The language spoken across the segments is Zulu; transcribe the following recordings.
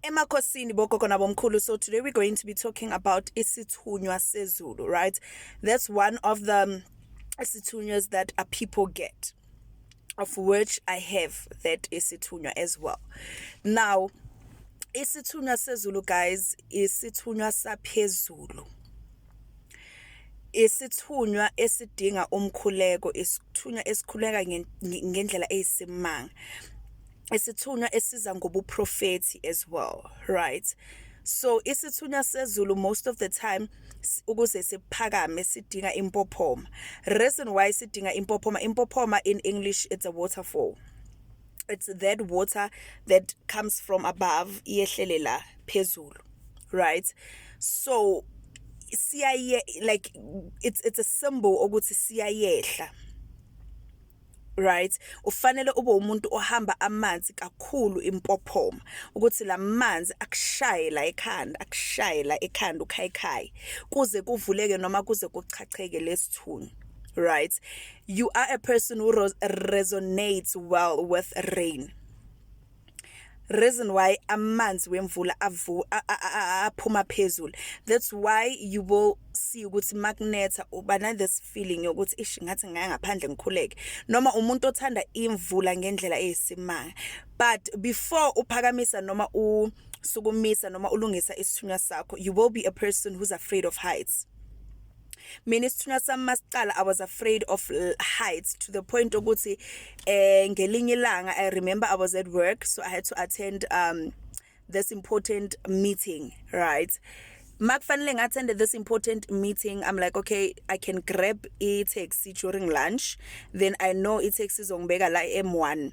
emakhosini bogogo nabomkhulu so today we're going to be talking about isithunywa sezulu right that's one of the um, isithunywas that a people get of which i have that isithunywa as well now isithunywa sezulu guys isithunywa saphezulu isithunywa esidinga umkhuleko isithunywa esikhuleka ngendlela eyisimanga isithunywa esiza ngobuprofethi as well right so isithunywa sezulu most of the time ukuze siphakame sidinga impophoma reason why sidinga impophoma impophoma in english it's a waterfall it's that water that comes from above iyehlelela phezulu right so siyaye like it's it's a symbol ukuthi siyayehla right ufanele ube umuntu ohamba amanzi kakhulu impophoma ukuthi lamanzi akushaye la ekhanda akushaye la ekhanda ukhayikhayi kuze kuvuleke noma kuze kuchacheke lesithunzi right you are a person who resonates well with rain reason why amanzi wemvula avu aphuma phezulu that's why you will see ukuthi makunetha uba na this feeling yokuthi ish ngathi ngaya ngaphandle ngikhuleke noma umuntu othanda imvula ngendlela eyisimanga but before uphakamisa noma usukumisa noma ulungisa isithunywa sakho you will be a person who's afraid of heights mina isithunywa sami masiqala i was afraid of uh, heights to the point ukuthi eh ngelinye ilanga i remember i was at work so i had to attend um this important meeting right makufanele ngathende this important meeting i'm like okay i can grab i taxi during lunch then i know i taxi izongibeka la e m1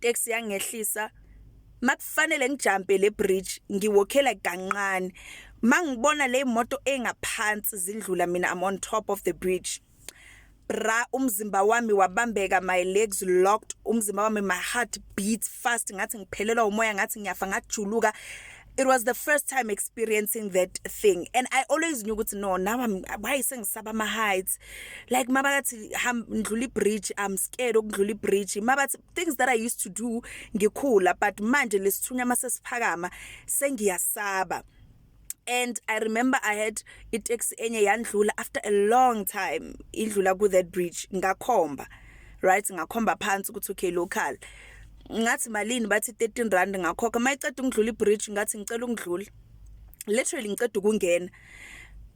taxi yangehlisa makufanele ngijampe le bridge ngiwokhela kanqane mangibona le moto engaphansi zindlula mina I'm on top of the bridge bra umzimba wami wabambeka my legs locked umzimba wami my heart beats fast ngathi ngiphelelwa umoya ngathi ngiyafa ngajuluka it was the first time experiencing that thing and i always knew ukuthi no now i'm why sengisaba ama heights like mabakathi ham ndlula ibridge i'm scared okudlula ibridge mabathi things that i used to do ngikhula but manje lesithunya masesiphakama sengiyasaba and i remember i had itaxi enye yandlula after a long time idlula ku that bridge ngakhomba right ngakhomba phansi ukuthi okay local ngathi malini bathi 13 rand ngakhokha mayiceda ukudlula ibridge ngathi ngicela ukudlula literally ngiceda ukungena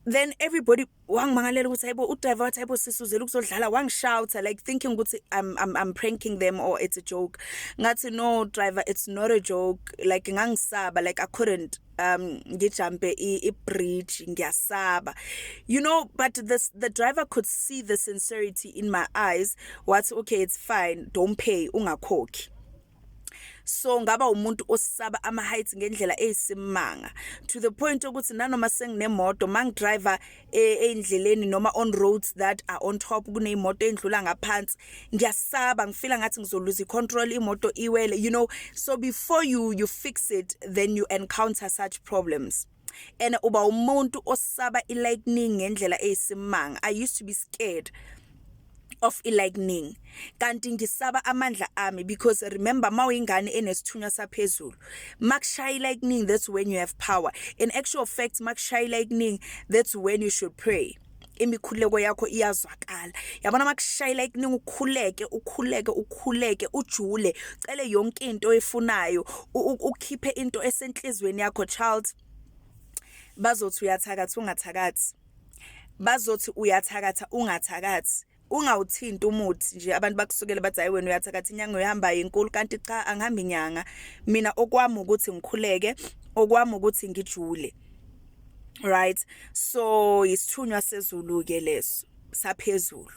then everybody wangimangalela ukuthi hayibo udriver wathi hayibo sisuzela ukuzodlala wangishouta like thinking ukuthi I'm, I'm, I'm pranking them or it's a joke ngathi no driver it's not a joke like ngangisaba like I couldn't um ngijumpe i-bridge ngiyasaba you know but this the driver could see the sincerity in my eyes wathi okay it's fine don't pay ungakhokhi so ngaba umuntu osaba ama heights ngendlela eyisimanga to the point ukuthi nanoma senginemoto mangidriver e, eindleleni noma on roads that are on top kuneyimoto endlula ngaphansi ngiyasaba ngifila ngathi ngizoluza icontrol imoto iwele you know so before you you fix it then you encounter such problems and uba umuntu osaba ilightning ngendlela eyisimanga i used to be scared of e-lightning kanti ngisaba amandla ami because remember mawuyingane enesithunywa saphezulu makushaya i-lightning that's when you have power in actual fact makushaya i-lightning that's when you should pray imikhuleko yakho iyazwakala yabona makushayela ikuningi ukhuleke ukhuleke ukhuleke ujule cele yonke into oyifunayo ukhiphe into esenhlizweni yakho child bazothi uyathakathi ungathakathi bazothi uyathakatha ungathakathi ungawuthinti umuthi nje abantu bakusukele bathi hayi wena uyathakatha inyanga uyohamba inkulu kanti cha angihambi inyanga mina okwami ukuthi ngikhuleke okwami ukuthi ngijule right so isithunywa sezulu ke leso saphezulu